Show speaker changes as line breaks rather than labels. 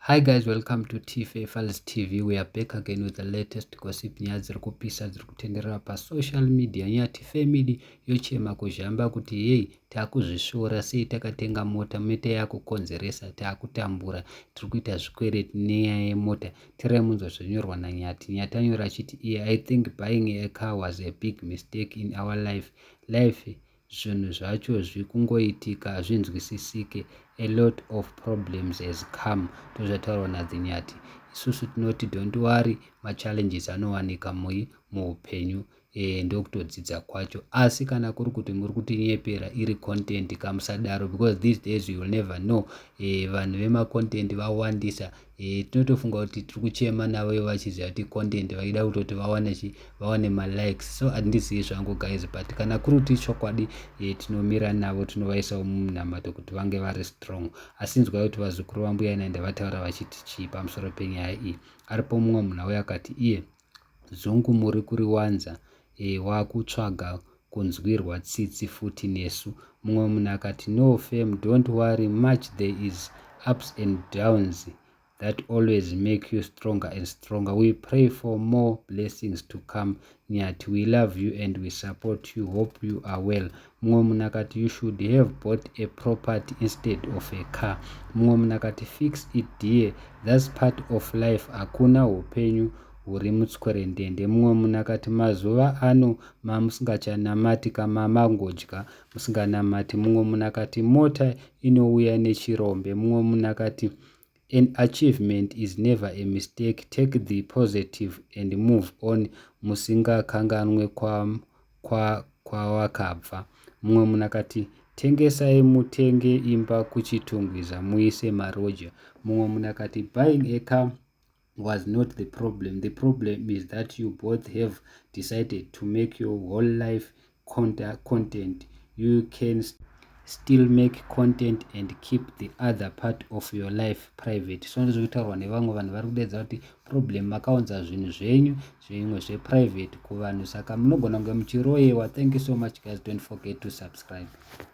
Hi guys welcome to TFA Files TV we are back again with the latest gossip nyaya dziri kupisa dziri kutenderera pasocial media nyaya TFA media yochema kuzhamba kuti yei takuzvisvora sei takatenga mota meta yakukonzeresa takutambura tiri kuita zvikwereti nenyaya yemota tirai munzwa zvinyorwa nanyati nyati anyora achiti iye i think buying a car was a big mistake in our life life zvinhu zvacho zvikungoitika hazvinzwisisike a lot of problems has come ndozvataurwa nadzinyati isusu tinoti don't worry machallenges anowanika mui muupenyu e, ndokutodzidza kwacho asi kana kuri kuti muri kutinyepera iri content kamusadaro because these days you will never know e, vanhu vemacontent vawandisa e, tinotofunga kuti tiri kuchema navo ivo vachiziva kuti content vaida kutoti vawane chi vawane malikes so handizivi zvangu guys but kana kuri kuti ichokwadi e, tinomira navo tinovaisawo mumunamato kuti vange vari strong asi nzwai kuti vazukuru vambuya naenda vataura vachiti chii pamusoro penyaya iyi aripo mumwe munhu auya akati iye yeah. Zungu muri kuriwanza eh wakutsvaga kunzwirwa tsitsi futi nesu. Mumwe munhu akati no fam don't worry much there is ups and downs that always make you stronger and stronger we pray for more blessings to come Nyathi we love you and we support you hope you are well Mumwe munhu akati you should have bought a property instead of a car. Mumwe munhu akati fix it dear that's part of life hakuna hupenyu huri mutswerendende. Mumwe munhu akati mazuva ano mamusingachanamati ka mamangodya musinganamati. Mumwe munhu akati mota inouya nechirombe. Mumwe munhu akati An achievement is never a mistake take the positive and move on musingakanganwe kwawakabva. Mumwe munhu akati tengesai mutenge imba kuchitungwiza muise maroja. Mumwe munhu akati buying a car was not the problem the problem is that you both have decided to make your whole life content you can still make content and keep the other part of your life private so ndizvo kutaurwa nevamwe vanhu vari kudeedza kuti problem makaunza zvinhu zvenyu zvimwe zveprivate kuvanhu saka munogona kunge muchiroyewa thank you so much guys don't forget to subscribe